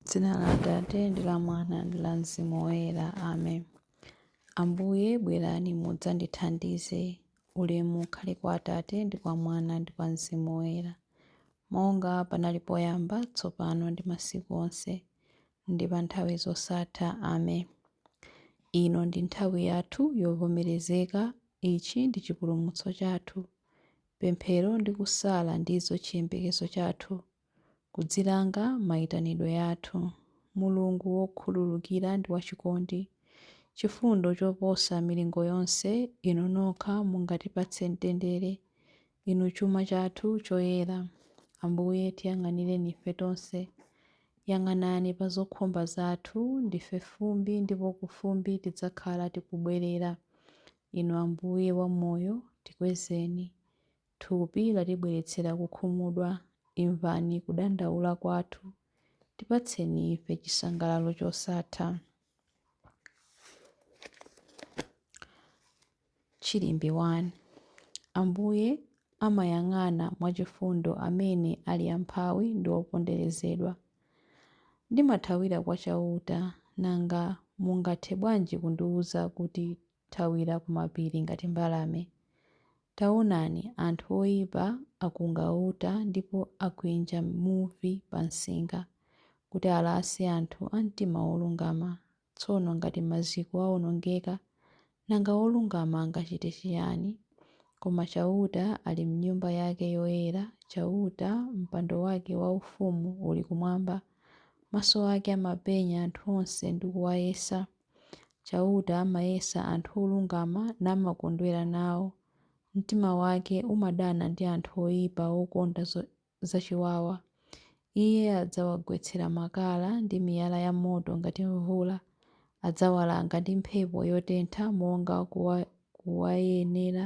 M'dzina la Atate, ndi la Mwana, ndi la Mzimu Woyera. Amen. Ambuye, bwerani mudzandithandize. Ulemu ukhale kwa Atate, ndi kwa Mwana, ndi kwa Mzimu Woyera. Monga panali poyamba, tsopano, ndi masiku onse, ndi pa nthawi zosatha. Amen. Ino ndi nthawi yathu yovomerezeka. Ichi ndi chipulumutso chathu. Pemphero ndi kusala ndizo chiyembekezo chathu. kudzilanga maitanidwe athu. Mulungu wokhululukira ndi wachikondi, chifundo choposa milingo yonse, Inu nokha mungatipatse mtendere, Inu chuma chathu choyera. Ambuye, tiyang'anireni ife tonse. Yang'anani pa zokhumba zathu. Ndife fumbi, ndipo ku fumbi tidzakhala tikubwerera. Inu Ambuye wa moyo, tikwezeni. Thupi latibweretsera kukhumudwa, imvani kudandaula kwathu, tipatseni ife chisangalalo chosatha. Chilimbi 1. Ambuye amayang'ana mwachifundo amene ali amphawi ndi oponderezedwa. Ndimathawira kwa Chauta, nanga mungathe bwanji kundiwuza kuti thawira ku mapiri ngati mbalame. Taonani, anthu oyipa akunga uta ndipo akwinja muvi pa nsinga, kuti alase anthu a mtima wolungama. Tsono ngati maziko awonongeka, nanga wolungama angachite chiyani? Koma Chauta ali m'Nyumba yake yoyera, Chauta, mpando wake waufumu uli kumwamba. Maso ake amapenya anthu onse ndi kuwayesa. Chauta amayesa anthu olungama namakondwera nawo. Mtima wake umadana ndi anthu oipa okonda zachiwawa. Iye adzawagwetsera makala ndi miyala yamoto ngati mvula. Adzawalanga ndi mphepo yotentha monga kuwayenera.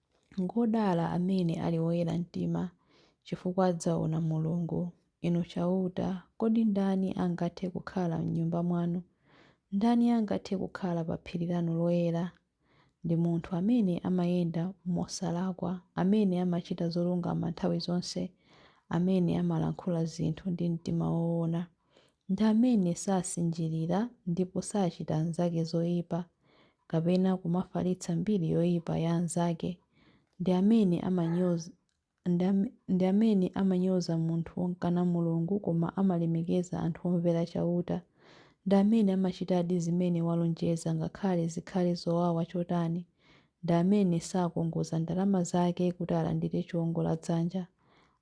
Ngodala amene ali oyera mtima, chifukwa adzaona Mulungu. Inu Chauta, kodi ndani angathe kukhala m'Nyumba mwanu? Ndani angathe kukhala pa phiri lanu loyera? Ndi munthu amene amayenda mosalakwa, amene amachita zolungama nthawi zonse, amene amalankhula zinthu ndi mtima woona. Ndi amene sasinjirira ndipo sachita anzake zoipa, kapena kumafalitsa mbiri yoipa ya anzake. Ndi amene amanyoza munthu womkana Mulungu koma amalemekeza anthu omvera Chauta. Ndi amene amachitadi zimene walonjeza ngakhale zikhale zowawa chotani. Ndi amene sakongoza ndalama zake kuti alandire chiwongoladzanja.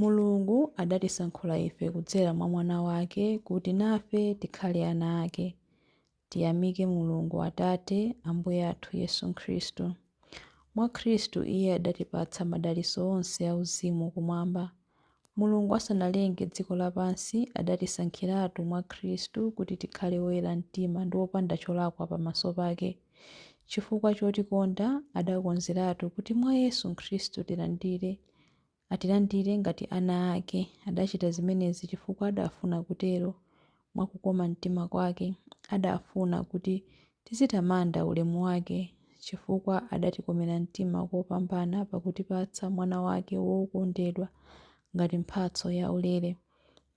Mulungu adatisankhula ife kudzera mwa Mwana wake kuti nafe tikhale ana ake. Tiyamike Mulungu Atate a Ambuye athu Yesu Khristu. Mwa Khristu Iye adatipatsa madalitso onse auzimu kumwamba. Mulungu asanalenge dziko lapansi, adatisankhiratu mwa Khristu kuti tikhale oyera mtima ndi opanda cholakwa pamaso pake. Chifukwa chotikonda, adakonzeratu kuti mwa Yesu Khristu tilandire atilandire ngati ana ake. Adachita zimenezi chifukwa adafuna kutero mwa kukoma mtima kwake. Adafuna kuti tizitamanda ulemu wake, chifukwa adatikomera mtima kopambana pakutipatsa Mwana wake wokondedwa ngati mphatso yaulere.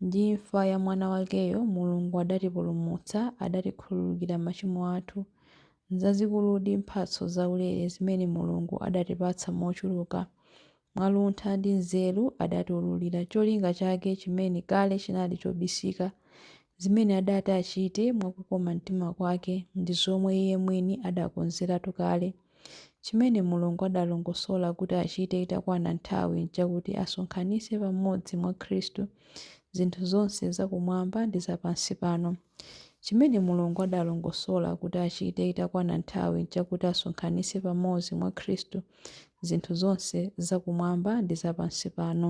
Ndi imfa ya Mwana wakeyo, Mulungu adatipulumutsa, adatikhululukira machimo athu. Nzazikuludi mphatso zaulere zimene Mulungu adatipatsa mochuluka! Mwa luntha ndi nzeru adatiwululira cholinga chake chimene kale chinali chobisika. Zimene adati achite mwa kukoma mtima kwake ndi zomwe Iye mwini adakonzeratu kale. Chimene Mulungu adalongosola kuti achite itakwana nthawi n'chakuti asonkhanitse pamodzi mwa Khristu zinthu zonse zakumwamba ndi zapansipano. Chimene Mulungu adalongosola kuti achite itakwana nthawi n'chakuti asonkhanitse pamodzi mwa Khristu zinthu zonse zakumwamba ndi zapansipano.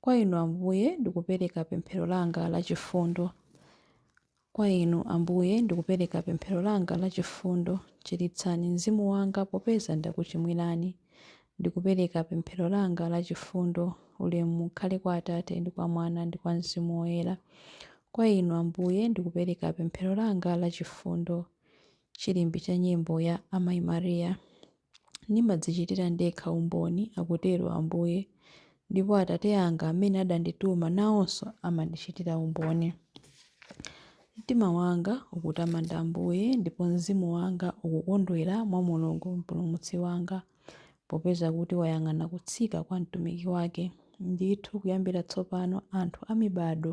Kwa Inu, Ambuye, ndikupereka pemphero langa la chifundo. Kwa Inu, Ambuye, ndikupereka pemphero langa la chifundo. Chiritsani mzimu wanga popeza ndakuchimwirani. Ndikupereka pemphero langa la chifundo. Ulemu ukhale kwa Atate ndi kwa Mwana ndi kwa Mzimu Woyera. Kwa Inu, Ambuye, ndikupereka pemphero langa la chifundo. Chilimbi cha nyimbo ya Amayi Maria. Ndimadzichitira ndekha umboni, akutero Ambuye, ndipo Atate anga amene adandituma nawonso amandichitira umboni. Mtima wanga ukutamanda Ambuye, ndipo mzimu wanga ukukondwera mwa Mulungu Mpulumutsi wanga, popeza kuti wayang'ana kutsika kwa mtumiki wake. Ndithu kuyambira tsopano anthu a mibadwo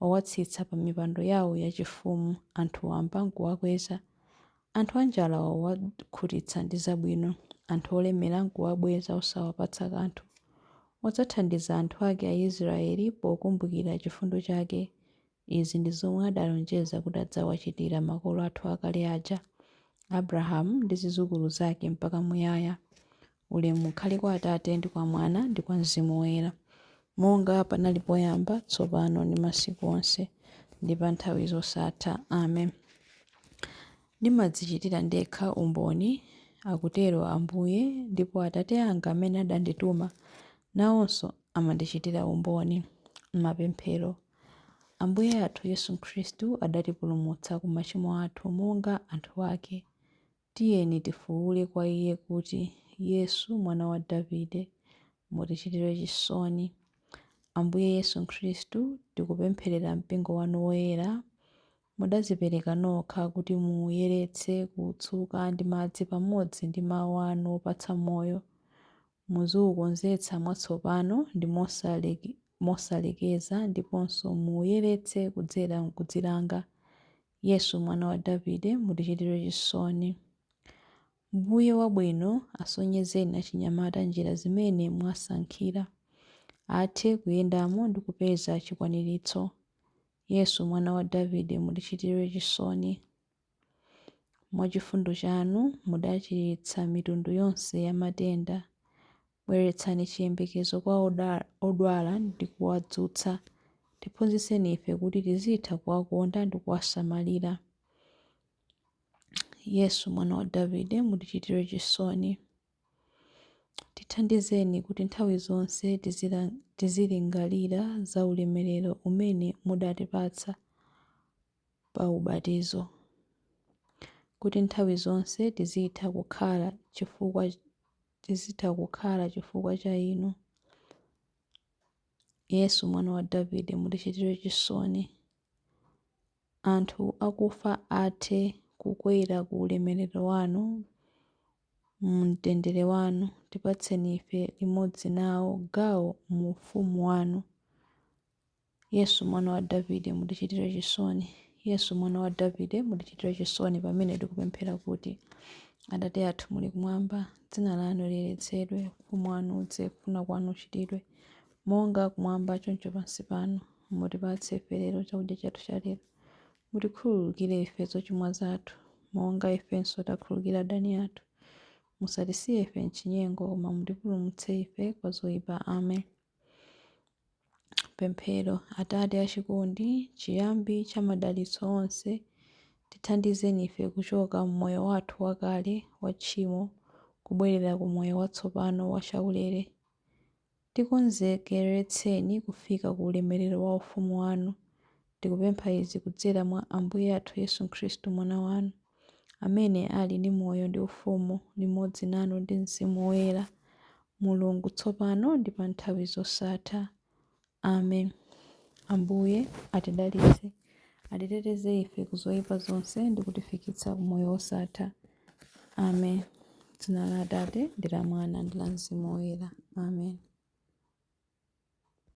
wawatsitsa pamipando yawo yachifumu anthu wamba n'kuwakweza. Anthu anjala wawakhutitsa ndi zabwino, anthu olemera n'kuwabweza osawapatsa kanthu. Wadzathandiza anthu ake Aisiraeli pokumbukira chifundo chake. Izi ndi zomwe adalonjeza kuti adzawachitira makolo athu akale aja, Abrahamu ndi zidzukulu zake mpaka muyaya. Ulemu ukhale kwa Atate, ndi kwa Mwana, ndi kwa Mzimu Woyera, monga panali poyamba, tsopano, ndi masiku onse, ndi pa nthawi zosatha. Amen. Ndimadzichitira ndekha umboni, akutero Ambuye, ndipo Atate anga amene adandituma nawonso amandichitira umboni. Mapemphero. Ambuye athu Yesu Khristu adatipulumutsa ku machimo athu monga anthu ake. Tiyeni tifuwule kwa Iye kuti, Yesu, Mwana wa Davide, mutichitire chisoni. Ambuye Yesu Khristu, tikupempherera Mpingo wanu woyera. Mudadzipereka nokha kuti muwuyeretse, kuwutsuka ndi madzi pamodzi ndi Mawu anu opatsa moyo. Muziwukonzetsa mwatsopano ndi mosalekeza ndiponso muwuyeretse kudzera m'kudzilanga Yesu, Mwana wa Davide, mutichitire chisoni. Mbuye wabwino, asonyezeni achinyamata njira zimene mwasankhira, athe kuyendamo ndi kupeza chikwaniritso. Yesu, Mwana wa Davide, mutichitire chisoni. Mwa chifundo chanu mudachiritsa mitundu yonse ya matenda. Bweretsani chiyembekezo kwa odwala ndi kuwadzutsa. Tiphunzitseni ife kuti tizitha kuwakonda ndi kuwasamalira. Yesu, Mwana wa Davide, mutichitire chisoni. Tithandizeni kuti nthawi zonse tizilingalira za ulemerero umene mudatipatsa pa ubatizo, kuti nthawi zonse tizitha kukhala chifukwa tizitha kukhala chifukwa cha inu. Yesu mwana wa Davide mutichitire chisoni. Anthu akufa athe kukwera ku ulemerero wanu mu mtendere wanu, tipatseni ife limodzi nawo gawo mu ufumu wanu. Yesu, Mwana wa Davide, mutichitire chisoni. Yesu, Mwana wa Davide, mutichitire chisoni pamene tikupemphera kuti, Atate athu muli kumwamba, dzina lanu liyeretsedwe, ufumu wanu udze, kufuna kwanu kuchitidwe, monga kumwamba choncho pansi pano. Mutipatse ife lero chakudya chathu cha lero. Mutikhululukire ife zochimwa zathu, monga ifenso takhululukira adani athu. Musatisiye ife m'chinyengo, koma mutipulumutse ife kwa zoyipa. Amen. Pemphero. Atate achikondi, chiyambi cha madalitso onse, tithandizeni ife kuchoka m'moyo wathu wakale wa tchimo kubwerera ku moyo watsopano wa chaulere. Tikonzekeretseni kufika ku ulemerero wa ufumu wanu, Tikupempha izi kudzera mwa Ambuye athu Yesu Khristu, Mwana wanu, amene ali ndi moyo ndi ufumu limodzi nanu ndi mzimu woyera, Mulungu, tsopano ndi pa nthawi zosatha. Amen. Ambuye atidalitse, atiteteze ife ku zoyipa zonse ndi kutifikitsa ku moyo wosatha. Amen. Dzina la Atate, ndi la Mwana, ndi la Mzimu Woyera. Amen.